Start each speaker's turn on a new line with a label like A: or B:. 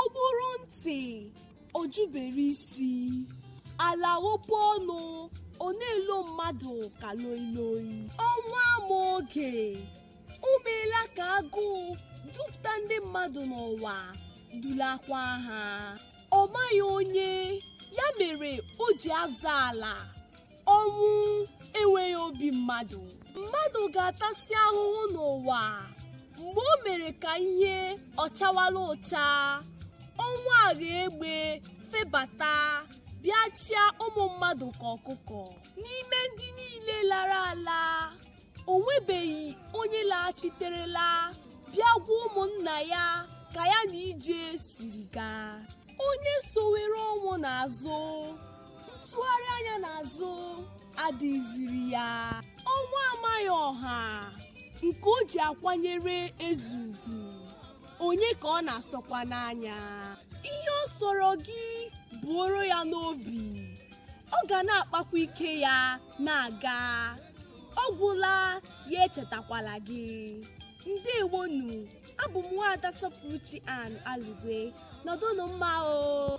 A: ọ gbụrụ ntị ọ jụbere isi ala ghepe ọnụ ọ na-elo mmadụ ka loiloi ọnwụ ama oge o meela ka agụụ dupụta ndị mmadụ n'ụwa dulakwa ha ọ maghị onye ya mere o ji aza ala ọnwụ enweghị obi mmadụ mmadụ ga-atasị ahụhụ n'ụwa mgbe o mere ka ihe ọ chawala ụcha ọnwụ aghọọ egbe febata bịa chịa ụmụ mmadụ ka ọkụkọ n'ime ndị niile lara ala o nwebeghị onye laghachiterela bịa gwa ụmụnna ya ka ya na ije siri gaa onye sowere ọnwụ n'azụ ntụgharị anya n'azụ adịghịziri ya ọnwụ amaghị ọha nke o ji akwanyere eze ugwu onye ka ọ na-asọkwanụ anya ihe ọ sọrọ gị buoro ya n'obi ọ ga na-akpakwa ike ya na-aga ọ gwụla ya echetakwala gị ndewonu abụ m nwaada sọpụrụchi ann alugwe nọdụnụ mma o